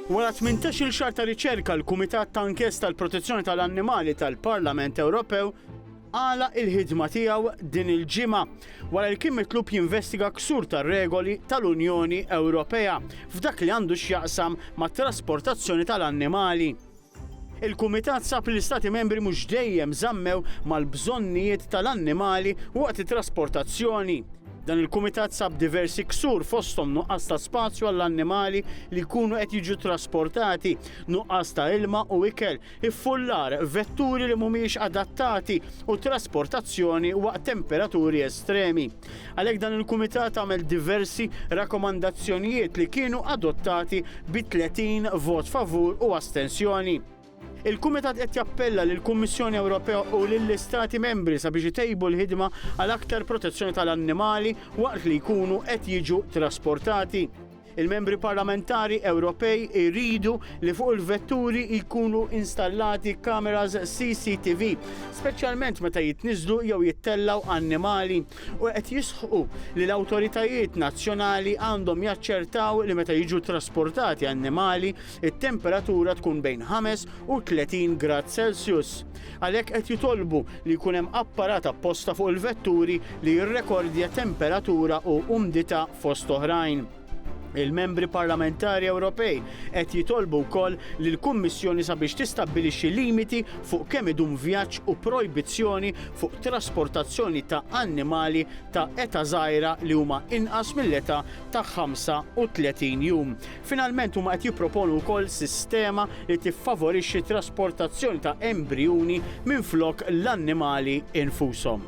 Wara tmintax-il xahar ta' riċerka l-Kumitat ta' Inkjesta għall-Protezzjoni tal-Annimali tal-Parlament Ewropew għalaq il-ħidma tiegħu din il-ġimgħa wara li kien mitlub jinvestiga ksur tar-regoli tal-Unjoni Ewropea f'dak li għandu x'jaqsam mat-trasportazzjoni tal-annimali. Il-Kumitat sab li l-Istati Membri mhux dejjem żammew mal-bżonnijiet tal-annimali waqt it-trasportazzjoni. Dan il-Kumitat sab diversi ksur fosthom nuqqas ta' spazju għall-annimali li jkunu qed jiġu trasportati, nuqqas ta' ilma u ikel, iffullar, vetturi li mhumiex adattati u trasportazzjoni waqt temperaturi estremi. Għalhekk dan il-Kumitat għamel diversi rakkomandazzjonijiet li kienu adottati bi 30 vot favur u astensjoni. Il-Kumitat qed jappella lill-Kummissjoni Ewropea u lill-Istati Membri sabiex itejbu l-ħidma għal aktar protezzjoni tal-annimali waqt li jkunu qed jiġu trasportati. Il-Membri Parlamentari Ewropej iridu li fuq il-vetturi jkunu installati kameras CCTV, speċjalment meta jitniżżlu jew jittellgħu annimali, u qed jisħqu li l-awtoritajiet nazzjonali għandhom jaċċertaw li meta jiġu ttrasportati annimali, it-temperatura tkun bejn 5 u 30 grad Celsius. Għalhekk qed jitolbu li jkun hemm apparat apposta fuq il-vetturi li jirrekordja temperatura u umdità fost oħrajn. Il-Membri Parlamentari Ewropej qed jitolbu wkoll lill-Kummissjoni sabiex tistabbilixxi limiti fuq kemm idum vjaġġ u projbizzjoni fuq trasportazzjoni ta' annimali ta' età żgħira li huma inqas mill-età ta' 35 jum Finalment huma qed jipproponu wkoll sistema li tiffavorixxi trasportazzjoni ta' embrijuni minflok l-annimali infushom.